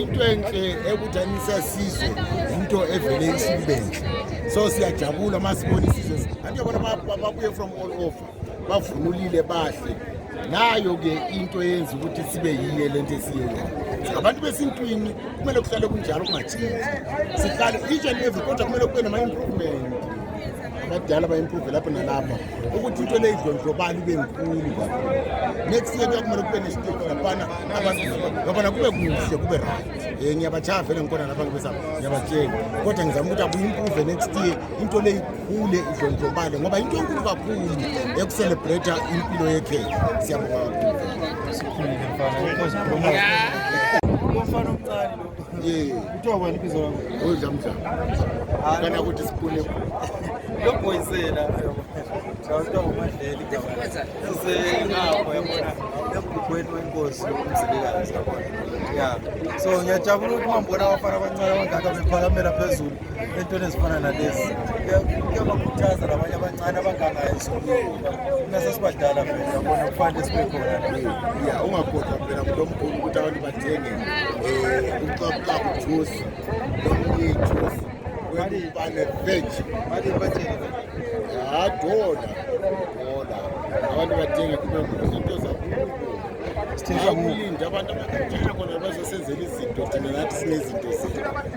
into enhle ekuthanisa sizwe into evele isibenhle so siyajabula uma sibona isizwe kanti yabona babuye from all over bavunulile bahle nayo-ke into eyenza ukuthi sibe yiye le nto esiyeyona ngabantu besintwini kumele kuhlale kunjalo kungatshintshi sihlale each and every kodwa kumele kube nama-improvement abadala ba-improve lapho nalapha ukuthi into leyidlondlobala ibe nkulu next year kuyakumele kube nesiteki laphana abantubabana kube kuhle kube right um eh, ngiyabajaya vele ngikhona lapha ngibesa ngiyabatshela kodwa ngizama ukuthi akuyi-improve next year into leyikhule idlondlobale ngoba into enkulu kakhulu ekuselebrata impilo yekhehla siyabonga kakhulu kuthiwa kwani ibizo lakho udlamdla kana ukuthi sipune lo boysela kuthiwa umadleli sisengapho yabona emgubhweni wenkosi umzilikazi yabona ya so ngiyajabula ukuthi mambona abafana abancane abangaka bephakamela phezulu entweni ezifana nalezi kuyabakhuthaza labanye abancane abangangayo sokuba nasesibadala phela yabona kufanele sibe khona ya ungakhohlwa phela kulo mkhulu ukuthi abantu bathenge um ucabucabu juice nomnye juice webane veg ya dola dola abantu badinga kube izinto zakubo abantu abakatshela khona bazosenzela izinto thina nathi sinezinto zethu